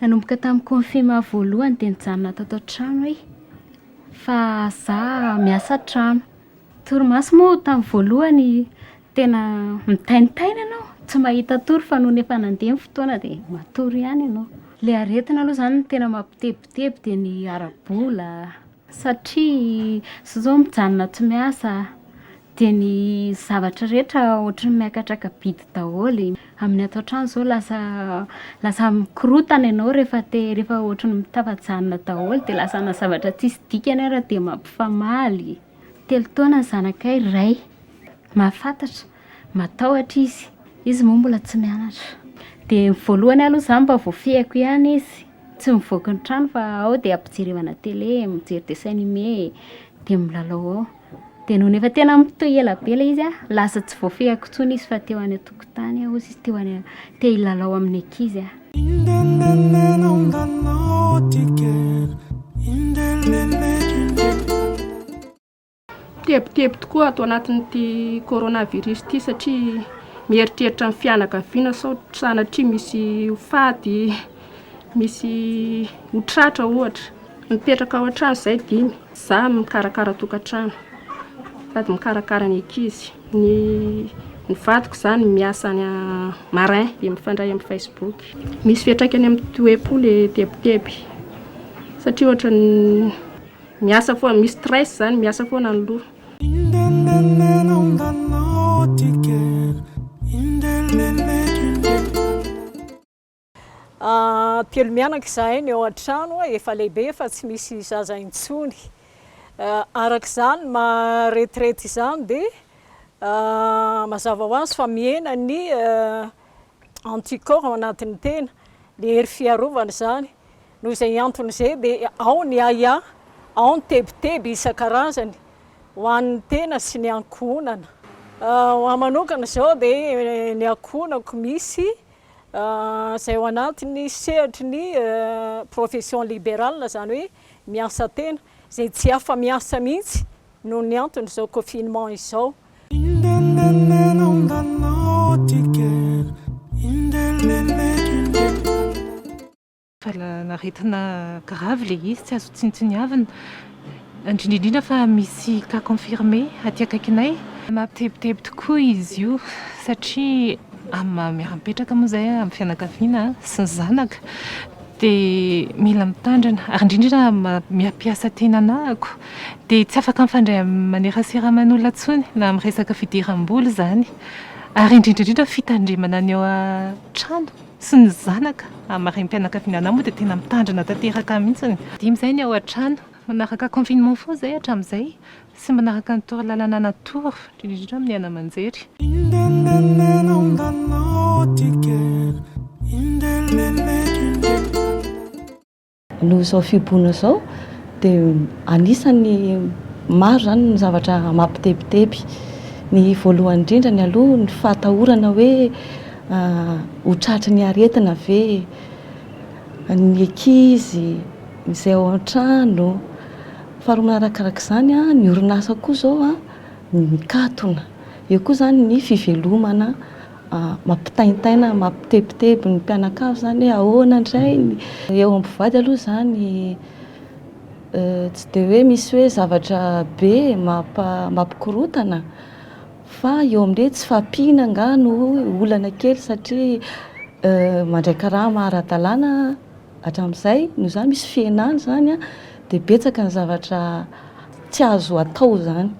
Nanomboka tamin'ny confinement voalohany dia nijanona tato an-trano aho fa za miasa an-trano. Torimaso moa tamin'ny voalohany tena mitaintaina ianao, tsy mahita tory fa nony efa nandeha ny fotoana dia matory ihany ianao. Ilay aretina aloha izany no tena mampitebiteby dia ny ara-bola. satria zao mijanona tsy miasa dia ny zavatra rehetra ohatran'ny miakatraka bidy daholo, amin'ny ato an-trano izao lasa lasa mikorontana ianao rehefa te rehefa ohatran'ny mitafa-janona daholo dia lasa ana zavatra tsisy dikany ary dia mampifamaly, telo taona ny zanakay iray, mahafantatra, matahotra izy, izy moa mbola tsy mianatra, dia ny voalohany aloha izany mba voafehiko ihany izy, Tsy mivoaka ny trano fa ao dia ampijerevana télé, mijery dessin animé, dia milalao ao. Dia nony efa tena mitohy ela be ilay izy an, lasa tsy voafehiko intsony izy fa teo any an-tokotany hozy izy teo any, te hilalao amin'ny ankizy aho. Tebiteby tokoa ato anatin'ity coronavirus ity satria mieritreritra ny fianakaviana sao sanatria misy ho faty, misy ho tratra ohatra. Mipetraka ao an-trano izay dimy, za mikarakara tokantrano sady mikarakara ny ankizy. Ny ny vadiko izany miasa any marin dia mifandray amin'ny Facebook. Misy fiantraikany amin'ny toe-po ilay tebiteby satria ohatran'ny Miasa foana, misy stress zany, miasa foana ny loha. Telo mianaka izahay ny ao an-trano, efa lehibe fa tsy misy zaza intsony. Araka izany ny maha retraite izany dia mazava ho azy fa mihena ny anticorps ao anatin'ny tena, ny hery fiarovana izany. Noho izay antony izay dia ao ny ahiahy, ao ny tebiteby isan-karazany ho an'ny tena sy ny ankohonana. Ho ahy manokana izao dia ny ankohonako misy izay ao anatin'ny sehatry ny profession liberale, izany hoe miasa tena, izay tsy afa-miasa mihitsy noho ny anton'izao confinement izao. Valanaretina grave le izy tsy azo tsinontsiniavina indrindra indrindra fa misy cas confirmé aty akaikinay. Mampitebiteby tokoa izy io satria amin'ny maha miara-mipetraka moa izay amin'ny fianakaviana sy ny zanaka dia mila mitandrina ary indrindra indrindra amin'ny maha miha mpiasa tena anahako dia tsy afaka mifandray amin'ny manerasera aman'olona intsony na amin'ny resaka fidiram-bola izany ary indrindra indrindra fitandremana ny ao an-trano sy ny zanaka amin'ny harem-pianakaviana anah moa dia tena mitandrina tanteraka mihitsy dimy izay ny ao an-trano manaraka confinement foana izay hatramin'izay sy manaraka ny toro lalana natoro indrindra indrindra amin'ny haino aman-jery Noho izao fihibohana izao dia anisan'ny maro izany ny zavatra mampitebiteby. Ny voalohany indrindra ny aloha ny fahatahorana hoe ho tratry ny aretina ve ny ankizy, izay ao an-trano. Faharoa manarakaraka izany ny orinasa koa izao mikatona. Eo koa izany ny fivelomana mampitaintaina mampitebiteby ny mpianakavy zany hoe ahoana ndray ny eo amin'ny mpivady aloha zany tsy dia hoe misy hoe zavatra be mampikorontana fa eo amin'ny hoe tsy fahampiana angaha no olana kely satria mandray karama ara-dalàna hatramin'izay noho izany misy fihenana izany dia betsaka ny zavatra tsy azo atao izany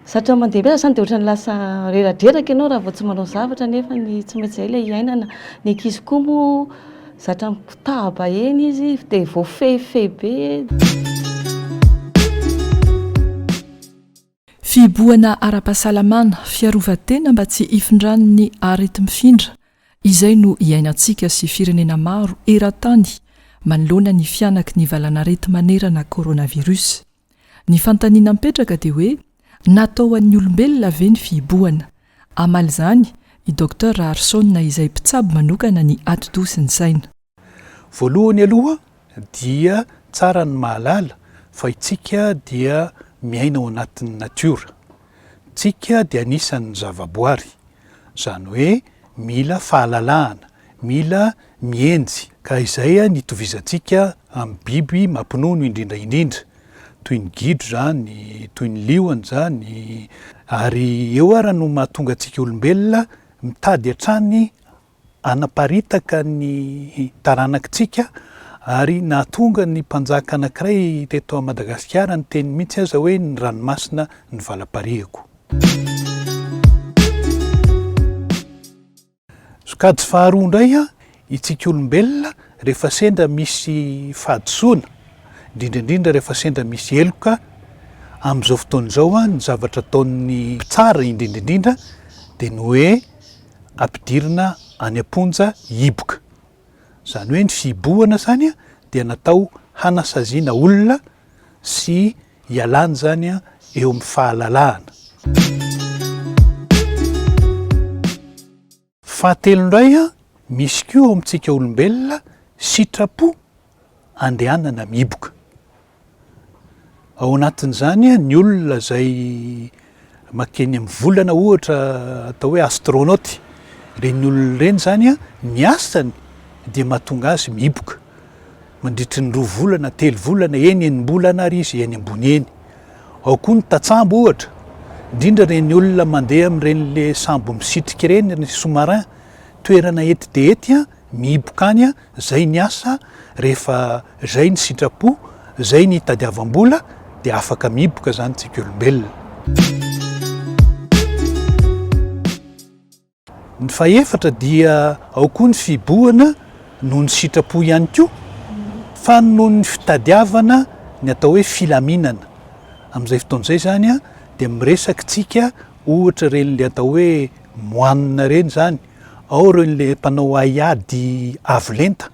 Zatra mandeha be zany dia ohatran'ny lasa reradreraka ianao raha vao tsy manao zavatra nefa ny tsy maintsy izay ilay hiainana. Ny ankizy koa moa zatra mikotaba eny izy dia voafehifehy be. Fihibohana ara-pahasalamana, fiarovan-tena mba tsy hifindran'ny areti-mifindra izay no iainantsika sy firenena maro eran-tany manoloana ny fihanaky ny valan'areti-manerana coronavirus. Ny fanontaniana mipetraka dia hoe natao ho an'ny olombelona ve ny fihibohana? Hamaly izany i Docteur Raharisona izay mpitsabo manokana ny atidoha sy ny saina. Voalohany aloha dia tsara ny mahalala fa itsika dia miaina ao anatin'ny natiora. Tsika dia anisan'ny zavaboary, izany hoe mila fahalalahana, mila mihenjy, ka izay ny itovizantsika amin'ny biby mampinono indrindra indrindra, toy ny gidro izany, toy ny liona izany, ary eo ara no mahatonga antsika olombelona mitady hatrany hanaparitaka ny taranakitsika ary nahatonga ny mpanjaka anankiray teto Madagasikara niteny mihitsy aza hoe ny ranomasina ny valaparihako. Sokajy faharoa indray isika olombelona rehefa sendra misy fahadisoana, indrindra indrindra rehefa sendra misy heloka, amin'izao fotoana izao ny zavatra ataon'ny mpitsara indrindra indrindra dia ny hoe, ampidirina any am-ponja hiboka. Izany hoe ny fihibohana izany dia natao hanasaziana olona sy hialana izany eo amin'ny fahalalahana. Fahatelo indray, misy koa ao amintsika olombelona sitrapo andehanana mihiboka. Ao anatin'izany ny olona izay makeny amin'ny volana ohatra atao hoe astronaute. Ireny olona ireny izany ny asany dia mahatonga azy mihiboka mandritry ny roa volana, telo volana, eny enim-bolana ary izy eny ambony eny. Ao koa ny tatsambo ohatra, indrindra ireny olona mandeha amin'ireny le sambo misitrika ireny, ny sous-marin, toerana ety dia ety Mihiboka any an, zay ny asa, rehefa zay ny sitrapo, zay ny itadiavam-bola dia afaka mihiboka zany tsika olombelona. Ny fahefatra dia ao koa ny fihibohana noho ny sitrapo ihany koa, fa noho ny fitadiavana ny atao hoe filaminana. Amin'izay fotoana izay zany an, dia miresaky tsika ohatra ireny le atao hoe moanina ireny zany, ao ireo ilay mpanao haiady avo lenta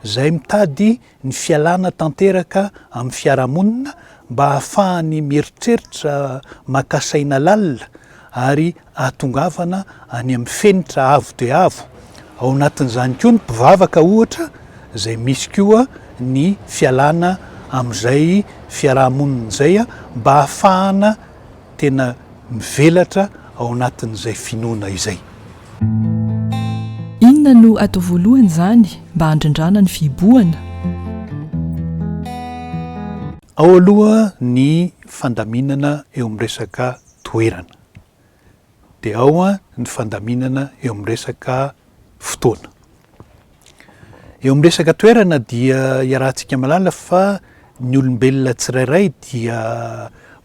izay mitady ny fialana tanteraka amin'ny fiarahamonina mba hahafahany mieritreritra maka saina lalina ary hahatongavana any amin'ny fenitra avo dia avo. Ao anatin'izany koa ny mpivavaka ohatra izay misy koa ny fialana amin'izay fiarahamonina izay mba hahafahana tena mivelatra ao anatin'izay finoana izay. Inona no atao voalohany izany mba handrindrana ny fihibohana? Ao aloha ny fandaminana eo amin'ny resaka toerana, dia ao ny fandaminana eo amin'ny resaka fotoana. Eo amin'ny resaka toerana dia iarahantsika mahalala fa ny olombelona tsirairay dia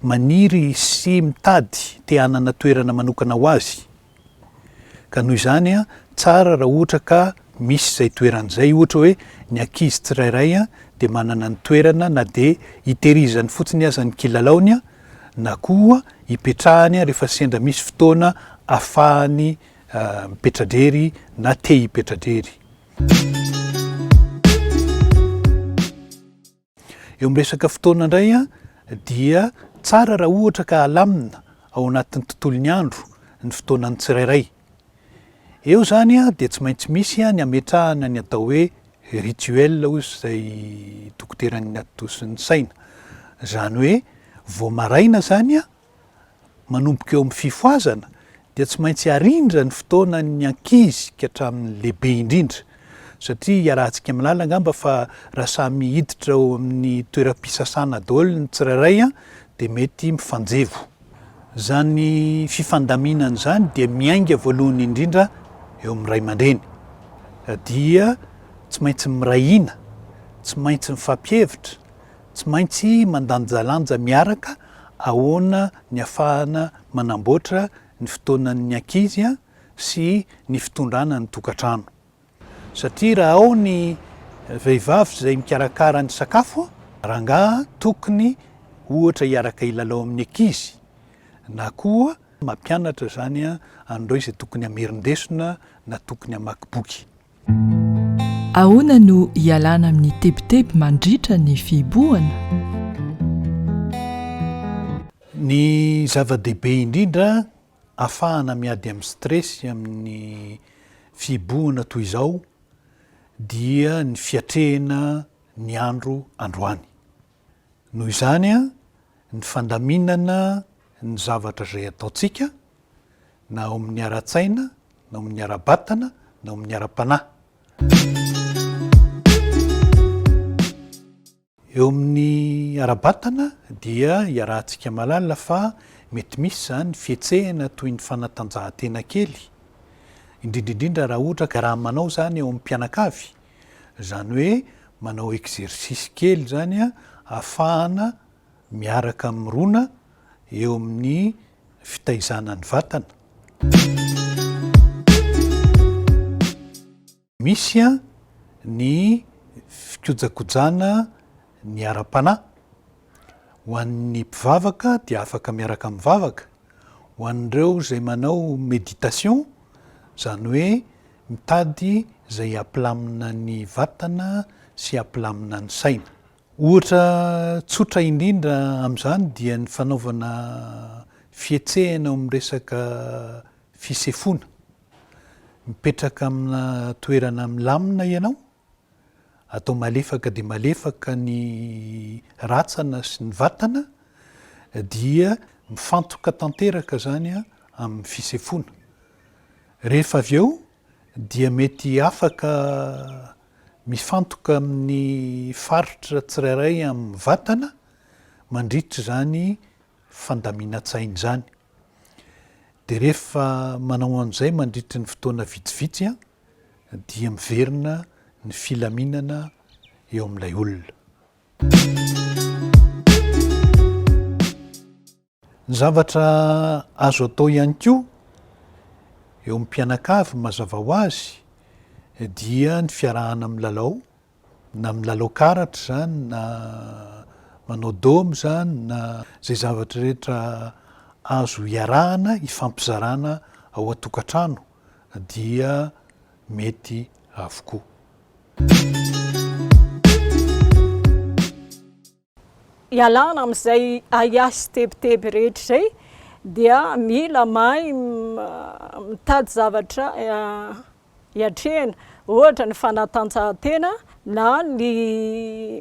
maniry sy mitady te hanana toerana manokana ho azy. Ka noho izany tsara raha ohatra ka misy izay toerana izay, ohatra hoe ny ankizy tsirairay dia manana ny toerana na dia hitehirizany fotsiny aza ny kilalaony na koa hipetrahany rehefa sendra misy fotoana afahany mipetra-drery na te hipetra-drery. Eo amin'ny resaka fotoana indray dia tsara raha ohatra ka alamina ao anatin'ny tontolon'ny andro ny fotoanan'ny tsirairay. Eo izany dia tsy maintsy misy ny ametrahana ny atao hoe rituel hoy izay dokoteran'ny atodosin'ny saina. Izany hoe vao maraina izany manomboka eo amin'ny fifohazana dia tsy maintsy arindra ny fotoanan'ny ankizy ka hatramin'ny lehibe indrindra satria iarahantsika milala angamba fa raha samy hiditra ao amin'ny toeram-pisasana daholo ny tsirairay dia mety mifanjevo. Izany fifandaminana izany dia miainga voalohany indrindra eo amin'ny ray aman-dreny dia tsy maintsy miray hina, tsy maintsy mifampihevitra, Tsy maintsy mandanjalanja miaraka ahoana ny afahana manamboatra ny fotoanan'ny ankizy sy ny fitondrana ny tokantrano. Satria raha ao ny vehivavy izay mikarakara ny sakafo, rangaha tokony ohatra hiaraka hilalao amin'ny ankizy na koa mampianatra izany an'ireo izay tokony hamerin-desona na tokony hamaky boky. Ahoana no ialana amin'ny tebiteby mandritra ny fihibohana? Ny zava-dehibe indrindra afahana miady amin'ny stress amin'ny fihibohana toy izao dia ny fiatrehina ny andro androany. Noho izany, ny fandaminana ny zavatra izay ataontsika, na ao amin'ny ara-tsaina, na ao amin'ny ara-batana, na ao amin'ny ara-panahy. Eo amin'ny ara-batana dia iarahantsika mahalala fa mety misy izany fihetsehana toy ny fanatanjahantena kely, indrindra indrindra raha ohatra ka raha manao izany ao amin'ny mpianakavy Izany hoe manao exercice kely izany ahafahana miaraka mirona eo amin'ny fitaizana ny vatana. Misy ny fikojakojana ny ara-panahy. Ho an'ny mpivavaka dia afaka miaraka mivavaka. Ho an'ireo izay manao méditation, izany hoe Mitady izay hampilamina ny vatana sy hampilamina ny saina. Ohatra tsotra indrindra amin'izany dia ny fanaovana fihetsehana eo amin'ny resaka fisefoana. Mipetraka amina toerana milamina ianao atao malefaka dia malefaka ny ratsana sy ny vatana dia mifantoka tanteraka izany amin'ny fisefoana. Rehefa avy eo dia mety afaka mifantoka amin'ny faritra tsirairay amin'ny vatana mandritra izany fandaminantsaina izany. Dia rehefa manao an'izay mandritry ny fotoana vitsivitsy dia miverina ny filaminana eo amin'ilay olona. Ny zavatra azo atao ihany koa eo amin'ny mpianakavy mazava ho azy dia ny fiarahana milalao na milalao karatra izany na manao domy izany na izay zavatra rehetra azo hiarahana hifampizarana ao an-tokantrano dia mety avokoa. Ialana amin'izay ahiahy sy tebiteby rehetra izay dia mila mahay mitady zavatra hiatrehana, ohatra ny fanatanjahantena na ny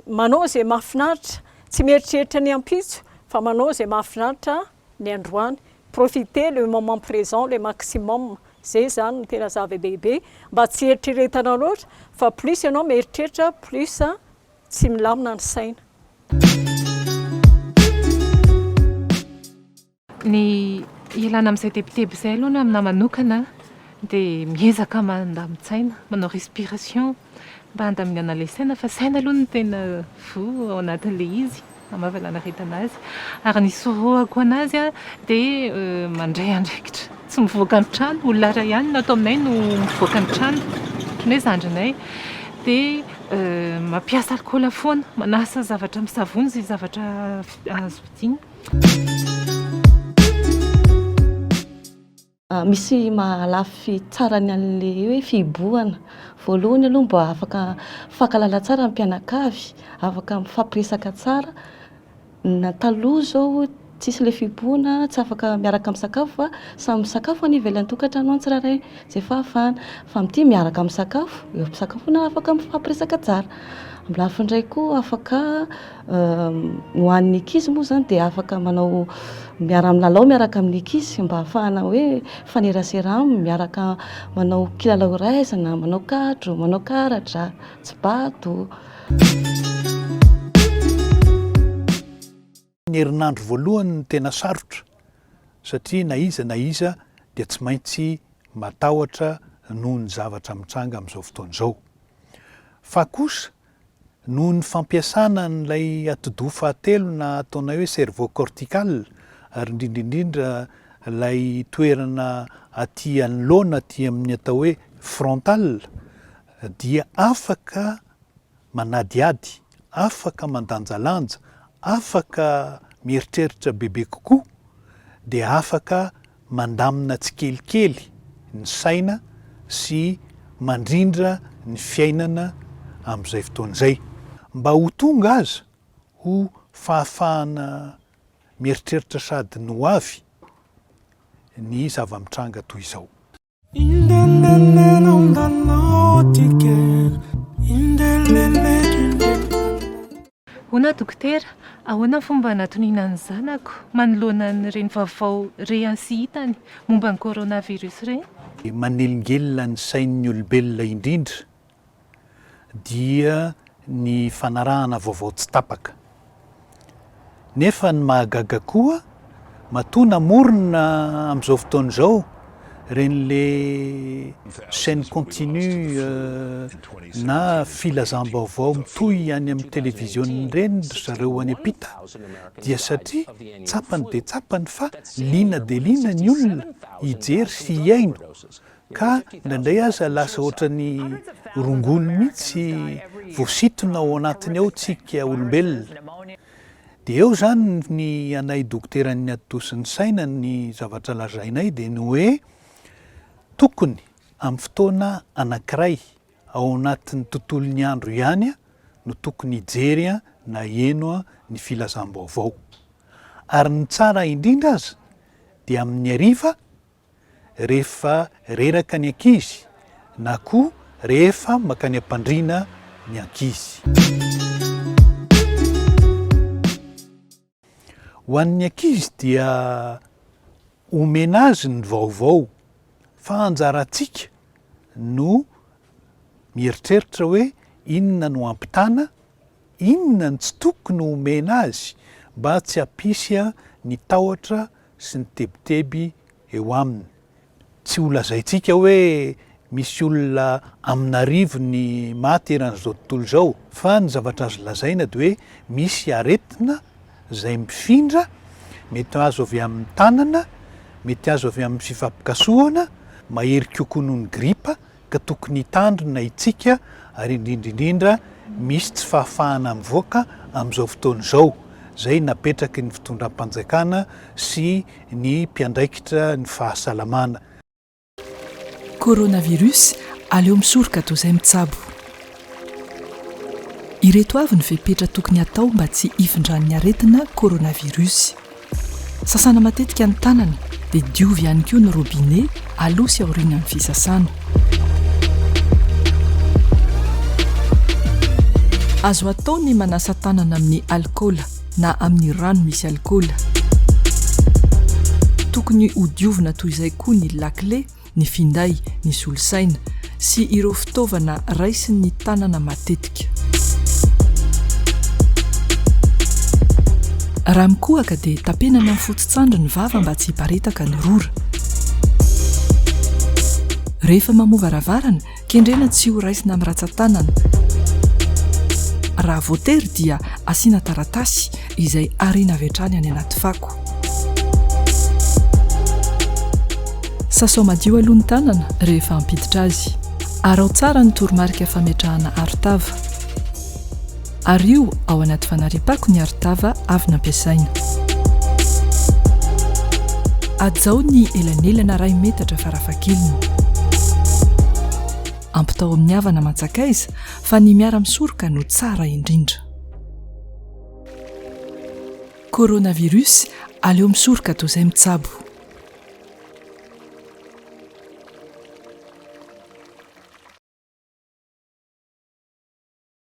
manao izay mahafinaritra, tsy mieritreritra ny ampitso fa manao izay mahafinaritra ny androany, profiter le moment présent le maximum, izay izany no tena zava-dehibe mba tsy hieritreretana loatra fa plus ianao mieritreritra plus Tsy milamina ny saina. Ny ialana amin'izay tebiteby izay aloha ny aminà manokana dia miezaka mandamin-tsaina, manao respiration mba handaminana ilay saina fa saina aloha no tena voa ao anatin'ilay izy. Hamavala anaretana azy ary ny sorohako anazy dia mandray andraikitra. Tsy mivoaka ny trano, olona iray ihany no ato aminay no mivoaka ny trano, ohatran'ny hoe zandrinay. Dia mampiasa alikaola foana, manasa zavatra amin'ny savony izay zavatra azo vidiana. Misy maha lafy tsara ny an'le hoe fihibohana, voalohany aloha mba afaka mifankahalala tsara ny mpianakavy, afaka mifampiresaka tsara, na taloha zao tsisy le fihibohana tsy afaka miaraka misakafo fa samy misakafo any ivelan'ny tokantrano any tsirairay zay fahafahana, fa amin'ity miaraka misakafo, eo am-pisakafoana afaka mifampiresaka tsara, amin'ny lafiny iray koa afaka Ny ho an'ny ankizy moa izany dia afaka manao miara-milalao miaraka amin'ny ankizy mba hahafahana hoe mifanerasera aminy, miaraka manao kilalao iray aizana, manao kadro, manao karatra, tsibato. Ny herinandro voalohany no tena sarotra satria na iza na iza dia tsy maintsy matahotra noho ny zavatra mitranga amin'izao fotoana izao. Fa kosa Noho ny fampiasana an'ilay atidoha fahatelo na ataonay hoe cerveau cortical ary indrindra indrindra ilay toerana aty anoloana aty amin'ny atao hoe frontal dia afaka manadihady, afaka mandanjalanja, afaka mieritreritra bebe kokoa dia afaka mandamina tsikelikely ny saina sy mandrindra ny fiainana amin'izay fotoana izay, mba ho tonga aza ho fahafahana mieritreritra sady ny ho avy ny zava-mitranga toy izao. Hoana dokotera, ahoana ny fomba hanatoniana ny zanako manoloana an'ireny vaovao rehany sy hitany momba ny coronavirus ireny? Manelingelina ny sain'ny olombelona indrindra dia ny fanarahana vaovao tsy tapaka. Nefa ny mahagaga koa, matoa namorona amin'izao fotoana izao ireny le chaîne continue na filazam-baovao mitohy any amin'ny televiziona ireny ry zareo any am-pita, dia satria tsapany dia tsapany fa liana dia liana ny olona hijery sy hihaino. Ka indraindray aza lasa ohatran'ny rongony mihitsy voasintona ao anatiny ao tsika olombelona. Dia eo izany ny anay dokoteran'ny ati-dosin'ny saina ny zavatra lazainay dia ny hoe tokony amin'ny fotoana anankiray ao anatin'ny tontolon'ny andro ihany no tokony hijery na hieno ny filazam-baovao. Ary ny tsara indrindra aza dia amin'ny hariva, rehefa reraka ny ankizy na koa rehefa mankany am-pandriana ny ankizy. Ho an'ny ankizy dia omena azy ny vaovao fa anjarantsika no mieritreritra hoe inona no hampitana, Inona no tsy tokony ho omena azy mba tsy hampisy ny tahotra sy ny tebiteby eo aminy? Tsy ho lazaintsika hoe misy olona amin'arivony maty eran'izao tontolo izao, fa ny zavatra azo lazaina dia hoe misy aretina izay mifindra, mety azo avy amin'ny tanana, mety azo avy amin'ny fifampikasohana, mahery kokoa noho ny gripa, ka tokony hitandrina itsika ary indrindra indrindra misy tsy fahafahana mivoaka amin'izao fotoana izao izay napetraky ny fitondram-panjakana sy ny mpiandraikitra ny fahasalamana. Coronavirus, aleo misoroka toa izay mitsabo. Ireto avy ny fepetra tokony atao mba tsy hifindran'ny aretina coronavirus. Sasana matetika ny tanana dia diovy ihany koa ny robinet aloha sy aorianan'ny fisasana. Azo atao ny manasa tanana amin'ny alikaola na amin'ny rano misy alikaola. Tokony ho diovina toy izay koa ny lakile ny finday, ny solosaina, sy ireo fitaovana raisin'ny tanana matetika. Raha mikohaka dia tapena amin'ny fototsandry ny vava mba tsy hiparitaka ny rora. Rehefa mamoa varavarana Kendrena tsy ho raisina amin'ny ratsan-tanana. Raha voatery dia asiana taratasy izay ariana avy hatrany any anaty fako. Sasao madio aloha ny tanana rehefa hampiditra azy. Araho tsara ny toromarika fametrahana arotava. Ario ao anaty fanariam-pako ny arotava avy nampiasaina. Hajao ny elanelana iray metatra farafahakeliny. Ampitao amin'ny havana aman-tsakaiza fa ny miara-misoroka no tsara indrindra. Coronavirus, aleo misoroka toa izay mitsabo.